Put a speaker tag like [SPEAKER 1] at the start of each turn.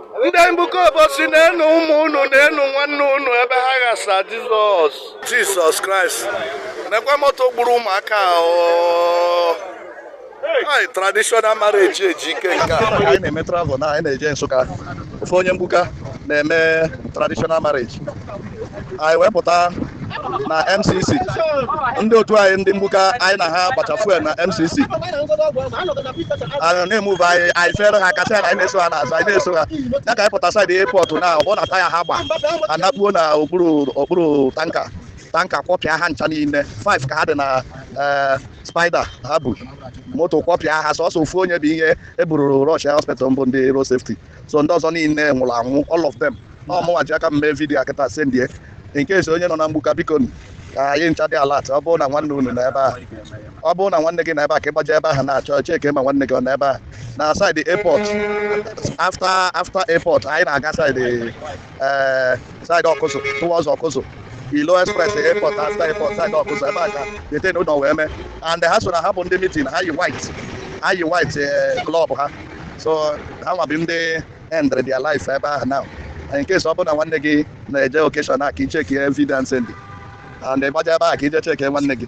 [SPEAKER 1] ndị mgbuka obosi neenụ ụmụ unu neenụ nwanne unu ebe ha ghasa jizọs jizọs kraịst nekwa moto gburu ụmụaka anyị traditional marriage ejike nke a anyị na-eme travel na
[SPEAKER 2] anyị na-eje nsụka ofu onye mgbuka na-eme traditional marriage anyị wee pụta na mcc ndị otu anyị ndị mgbuka anyị na ha gbacha fuel na mcc anyị na-emuve anyị anyị fere ha kasị anyị na-eso ha n'azụ anyị na-eso ha ya ka anyị pụta saịdị airport na ọ na taya ha gba ha anakpuo na okpuru okpuru tanka tanka kwọpịa ha ncha niile 5 ka ha dị na eh, spider ha bu moto kwọpịa ha sọsọ ofu onye bụ ihe e buru rọshia hospital bụ ndị road safety so ndị ọzọ niile nwụrụ anwụ all of them ọ mụnwa ji aka m mee vidiyo a kịta sendie in case onye nọ na mgbuka biko nụ, ka anyị ncha dị alat ọ bụrụ na nwanne unu nọ ebe a ọ bụrụ na nwanne gị nọ ebe a ka ị gbaje ebe ahụ na-achọ cheke ma nwanne gị ọ nọ ebe a na saịdị airport after after airport anyị na-aga saịdị ee saịdị ọkụzụ towards ọkụzụ ilo express airport after airport saịdị ọkụzụ ebe a ka the thing nọlọ wee mee and ha so na ha bụ ndị mitin ha yi white ha yi white eh, club ha so ha nwa bụ ndị end their life ebe ahụ now in case ọ bụrụ na nwanne gị na-eje okeshọn a ka i cheki evidence ndị a and ị gbaje ebe a ka i je cheki nwanne gị